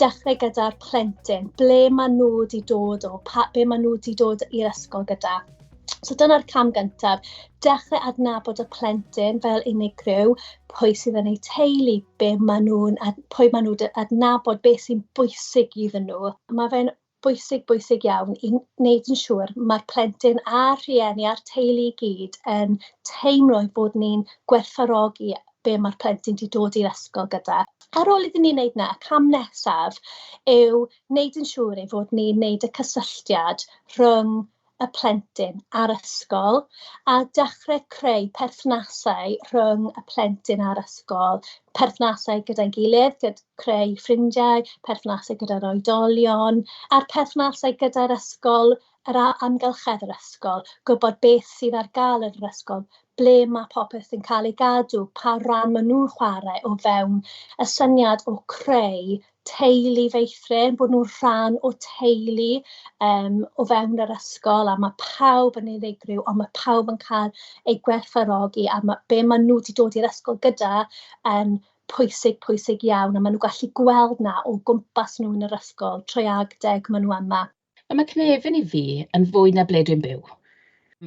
dechrau gyda'r plentyn, ble maen nhw wedi dod o, pa, be maen nhw wedi dod i'r ysgol gyda. So dyna'r cam gyntaf, dechrau adnabod y plentyn fel unigryw, pwy sydd yn eu teulu, be maen nhw'n, pwy maen nhw'n adnabod, beth sy'n bwysig iddyn nhw. Mae fe'n bwysig, bwysig iawn i wneud yn siŵr mae'r plentyn a'r rhieni a'r teulu i gyd yn teimlo ei bod ni'n gwerthfawrogi be mae'r plentyn wedi dod i'r ysgol gyda. Ar ôl iddyn ni wneud na, y cam nesaf yw wneud yn siŵr ei fod ni'n wneud y cysylltiad rhwng y plentyn a'r ysgol a dechrau creu perthnasau rhwng y plentyn a'r ysgol, perthnasau gyda'i gilydd, gyda creu ffrindiau, perthnasau gyda'r oedolion a'r perthnasau gyda'r ysgol, yr amgylchedd yr ysgol, gwybod beth sydd ar gael yn yr ysgol, ble mae popeth yn cael ei gadw, pa ran maen nhw'n chwarae o fewn y syniad o creu teulu feithrin, bod nhw'n rhan o teulu um, o fewn yr ysgol a mae pawb yn unigryw ond mae pawb yn cael eu gwerthfarogi a mae, be maen nhw wedi dod i'r ysgol gyda yn pwysig, pwysig iawn a maen nhw'n gallu gweld na o gwmpas nhw yn yr ysgol, trwy ag deg maen nhw yma. Wel mae cnefin i fi yn fwy na ble dwi'n byw.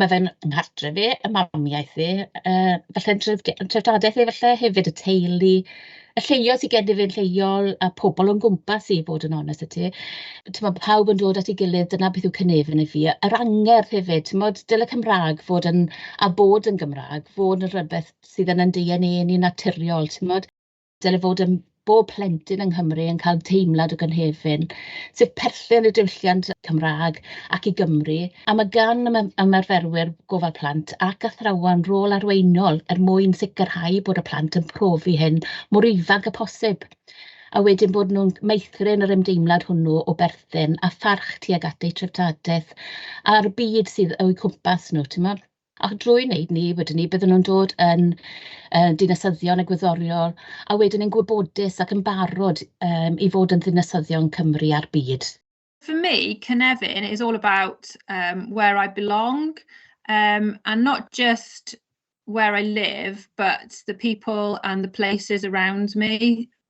Mae fe'n nghartref i, y mamiaith i, yy falle yn tref- yn treftadaeth i falle hefyd, y teulu, y lleoedd sy gennyf fi yn lleol, y pobl o'n gwmpas i i fod yn onest 'da ti. Timod pawb yn dod at ei gilydd, dyna beth yw cynefin i fi. Yr angerdd hefyd, timod, dyle Cymraeg fod yn... a bod yn Gymraeg, fod yn rywbeth sydd yn ein DNA ni yn naturiol, timod. dyle fod ym bob plentyn yng Nghymru yn cael teimlad o gynefin, sef perthyn i'r diwylliant Cymraeg ac i Gymru, a mae gan ymarferwyr gofal plant ac athrawon rôl arweinol er mwyn sicrhau bod y plant yn profi hyn mor ifanc â phosib, a wedyn bod nhw'n meithrin yr ymdeimlad hwnnw o berthyn a pharch tuag at eu treftadaeth a'r byd sydd o'u cwmpas nhw, timod. A drwy wneud 'ny wedyn 'ny bydden nhw'n dod yn yy dinasyddion egwyddorion, a wedyn yn gwybodus ac yn barod yym i fod yn ddinasyddion Cymru a'r byd. For me, cynefin is all about um, where I belong um, and not just where I live, but the people and the places around me.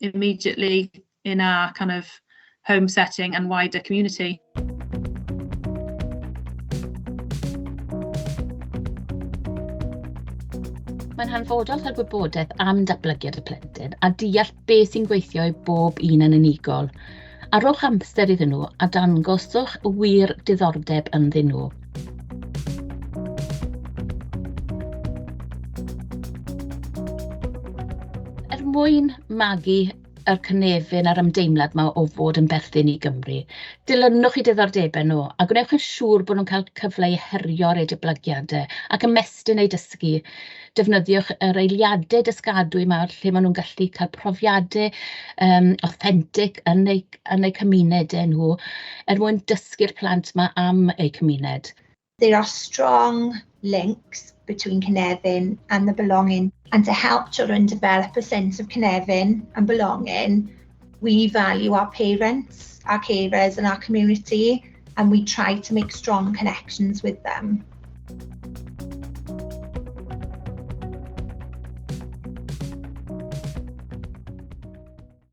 immediately in our kind of home setting and wider community. Mae'n hanfodol cael gwybodaeth am datblygiad y plentyn a deall beth sy'n gweithio i bob un yn unigol. a rhowch amser iddyn nhw a dangoswch wir diddordeb ynddyn nhw. Er mwyn magu yr cynefin a'r ymdeimlad mae o fod yn berthyn i Gymru. Dilynwch i diddordebau nhw a gwnewch yn siŵr bod nhw'n cael cyfle i herio'r eu diblygiadau ac ymestyn eu dysgu. defnyddiwch yr eiliadau dysgadwy 'ma lle maen nhw'n gallu cael profiadau yym awthentig yn eu yn eu cymunedau nhw er mwyn dysgu'r plant 'ma am eu cymuned. There are strong links between Cynefin and the belonging and to help children develop a sense of Cynefin and belonging We value our parents, our carers and our community and we try to make strong connections with them.